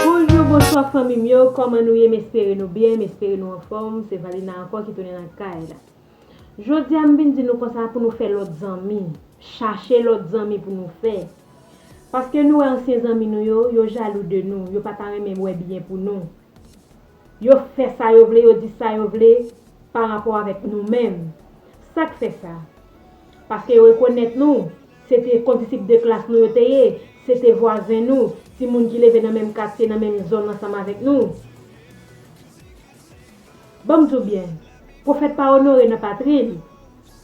Bonjou bonswa fanmi m yo kòman nou ye m espere nou byen m espere nou anfòm se Valina ankò ki tounen nan kay la jodi a m vin di nou konsa pou nou fè lòt zanmi chache lòt zanmi pou nou fè paske nou wè ansyen zanmi nou yo yo jalou de nou yo pa ta renmen wè byen pou nou Yo fè sa yo vle, yo di sa yo vle pa rapò avèk nou menm. Sa k fè sa? Paske yo rekonèt nou, se te kondisip de klas nou yo te ye, se te vwazen nou, timoun ki leve nan menm katye, nan menm zòn ansanm avèk nou. Ban m di w byen, pwofèt pa onore nan patri l.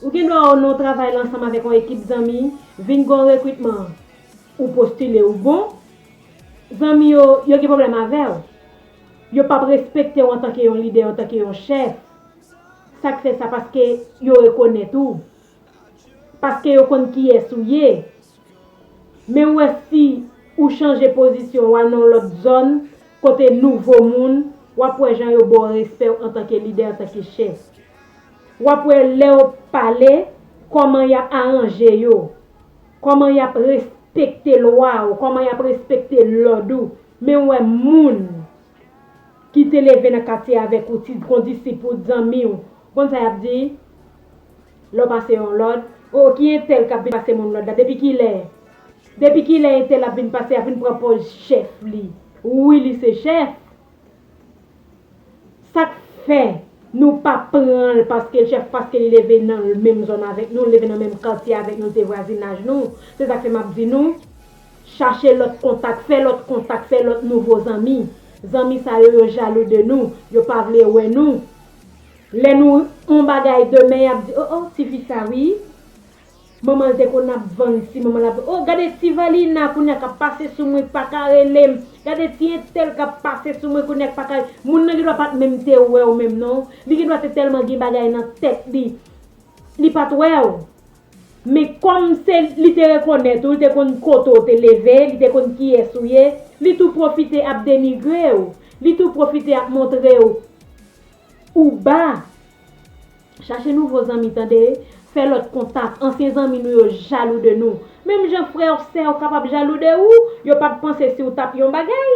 Ou gen dwa ou non travay la ansanm avèk yon ekip zanmi, vin gen yon rekritman, ou postile, ou bon, zanmi yo, yo gen pwoblèm avè w. Yo pap respekte w antanke yon lidè, antanke yon chèf. Sa k fè sa? Paske yo rekonèt ou. Paske yo konn kiyès ou ye. Men wè si ou chanje pozisyon w al nan yon lòt zòn kote nouvo moun, w ap wè jan yo ba w respè w antanke lidè, antanke chèf. W ap wè lè yo pale, kòman y ap aranje yo. Koman yap respekte lwa ou koman yap respekte lod ou men wè moun ki te leve nan katye avek ou ti kondisip ou dzanmi ou konn sa yap di lè ou pase yon lod oh ki entèl kap vin pase moun lod la depi kilè depi kilè entèl ap vin pase ap vin pran poz chèf li wi li se chèf. Sak fè Nou pa pranl paske l chèf paske li leve nan l menm zòn avèk nou l leve nan menm katye avèk nou l se vwazinaj nou se sak fè map di nou chache lòt kontak fè lòt kontak fè lòt nouvo zanmi zanmi sa yo yo jalou de nou yo pa vle wè nou lè nou on bagay demen yap di oh oh tifi sa wi. Manmanl te konn ap vann si manmanl ap oh gade ti valina kounya kap pase sou mwen paka relem gade ti entèl kap pase sou mwen kounya paka moun nan gendwa pat menm te wèw menm non li gendwa te tèlman gen bagay nan tèt li li pat wèw men kòm se li te rekonèt ou li te konn kote ou te leve li te konn kiyès ou ye li tou pwofite ap denigrew li tou pwofite ap montrew ou ba. Chache nouvo zanmi tande, fè lòt kontak, ansyen zanmi nou yo jalou de nou. Menm jan frè ou sè ou kapab jalou de ou, yo pap panse si ou tap yon bagay.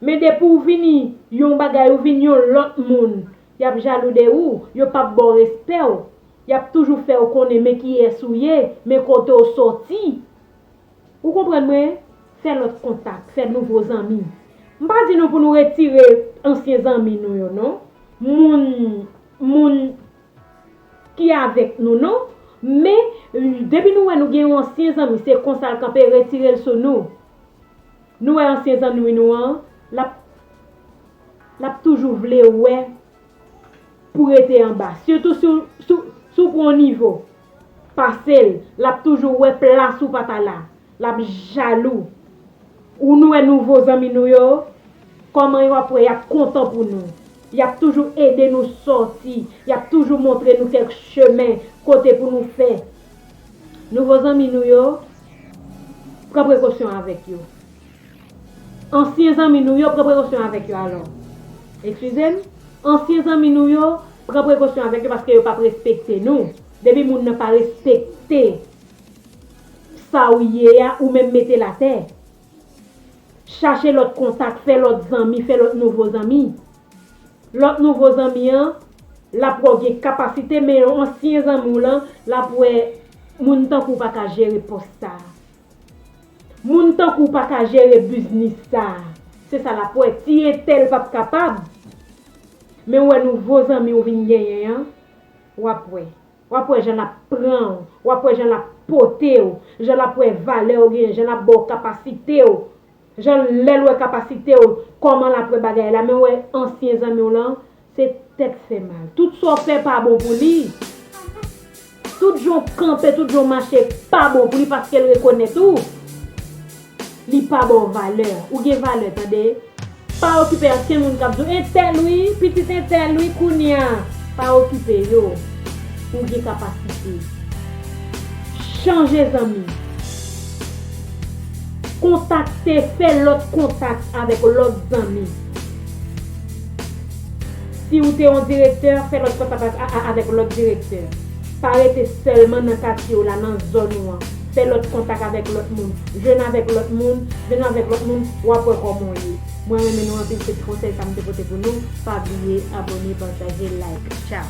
Men depi ou vini yon bagay ou vin yon lòt moun, yap jalou de ou, yo pap baw respè ou, yap toujou fè ou konnen men kiyès ou ye, men kote ou sòti. Ou konprann mwen? Fè lòt kontak, fè nouvo zanmi. M pa di nou pou nou retire ansyen zanmi nou yo non. Moun, moun ki avèk nou non. Men, depi nou wè nou gen yon ansyen zanmi, se konsa l kanpe, retire l sou nou. Nou wè ansyen zanmi nou an, l ap, l ap toujou vle wè pou rete anba. Sitou si w, si w pran yon nivo. pasel lap toujou wè plas ou pa ta la lap jalou ou nou wè nouvo zanmi nou yo kòman yo ap wè yap kontan pou nou yap toujou ede nou sòti yap toujou montre nou kèk chemen kote pou nou fè nouvo zanmi nou yo pran prekosyon avèk yo. Ansyen zanmi nou yo, pran prekosyon avèk yo alò. Ekskize m, ansyen zanmi nou yo, pran prekosyon avèk yo paske yo p ap respekte nou. Depi moun nan pa respekte sa ou ye a, ou menm mete l atè. Chache lòt kontak, fè lòt zanmi, fè lòt nouvo zanmi. Lòt nouvo zanmi an, l ap wè w gen kapasite men yon ansyen zanmi w lan, l ap wè moun tankou w pa ka jere pòs sa a. Moun tankou w pa ka jere biznis sa a. Se sa l ap wè. Ti entèl p ap kapab. Men w wè nouvo zanmi w vin genyen an, w ap wè. W ap wè jan l ap pran w. W ap wè jan l ap pote w. Jan l ap wè valè w genyen. Jan l ap ba w kapasite w. Jan lèl wè kapasitew kòman lap wè bagay la men wè ansyen zanmiw lan se tèt fè mal tout sa w fè pa bon pou li tout jan w kanpe tout jan w mache pa bon pou li paskel rekonèt ou li pa baw valè ou gen valè tande pa okipe ansyen moun kap di w entèl wi pitit entèl wi kounya pa okipe yo ou gen kapasite chanje zanmi. Kontakte Fè lòt kontak avèk lòt zanmi Si ou te yon direktè, fè lòt kontak avèk lòt direktè. Pa rete sèlman nan katye w la, nan zòn ou an. Fè lòt kontak avèk lòt moun. Jwenn avèk lòt moun, jwenn avèk lòt moun, w ap wè kòman w ye. Mwen renmen nou anpil se ti konsèy sa m te pote pou nou, pa bliye abone, pataje, like. Tchao!